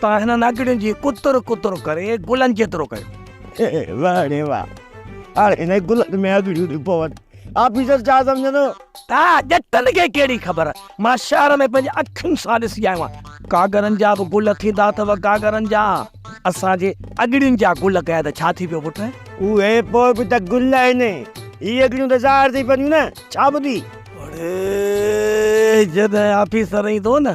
تان هنن اڳڙين جي ڪتر ڪتر ڪري گلن جيترو ڪيو. واه ڙي واه هاڻي هنن گلن ۾ اڳڙيون ٿيون پون. آفيسر ڇا سمجهندو؟ تا ڄٽن کي ڪهڙي خبر. مان شهر ۾ پنهنجي اکين سان ڏسي آيو آهيان. گاگرن جا به گل ٿيندا اٿو گاگرن جا. اسان جي اڳڙين جا گل ڪيا ته ڇا ٿي پيو پٽ. اهي پوء به ته گل آهن. هي اڳڙيون ته ظاهر ٿي پونديون نه. ڇا ٻڌي؟ اڙي جڏهن آفيسر ايندو نه.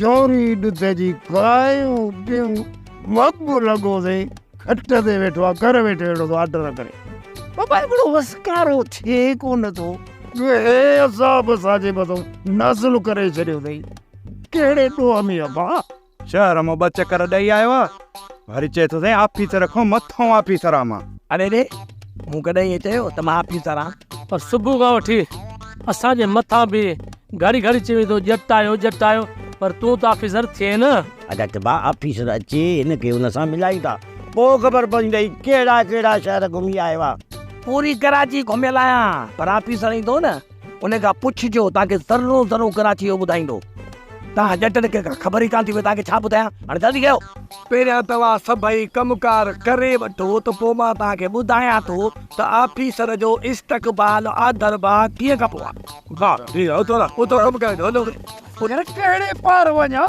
جوري ڏڌ جي ڪايون ڏيون وڳ لڳو سي کٽ تي ويٺو آ گهر ويٺي اهڙو ٿو آرڊر ڪري بابا هڪڙو وسڪارو ٿئي ڪونه ٿو هي عذاب ساجي بدو نازل ڪري ڇڏيو اٿئي ڪهڙي ڏوهه ۾ ابا شهر مان ٻه چڪر ڏئي آيو آ وري چئي ٿو سائين آفيسر کان مٿو آفيسر آ مان. اڙي ڙي مون ڪڏهن ائين چيو ته مان آفيسر آ. پر صبح کان وٺي اسان جي مٿان به گهڙي گهڙي چئي ويندو ڄٽ آيو ڄٽ آيو پر تون ته آفيسر ٿئين نه. ادا ٽبا آفيسر اچي هن کي هن سان ملائي ٿا پوء خبر پوندئي ڪهڙا ڪهڙا شهر گهمي آيو آ. پوري ڪراچي گهميل آهيان پر آفيسر ايندو نه. ان کان پڇجو توهان کي ذرو ذرو ڪراچي جو ٻڌائيندو. توهان ڄٽن کي ڪا خبر ئي ڪانه ٿي پئي توهان کي ڇا ٻڌايان. هاڻي جلدي ڪيو. پهريان توهان سڀئي ڪم ڪار ڪري وٺو ته پوء مان توهان کي ٻڌايان ٿو ته آفيسر جو استقبال آڌر ڀاء ڪيئن ڪبو آهي. ڀاء جي اتو اتو ڪم ڪري ڏيو. هن کي ڪهڙي پار وڃان.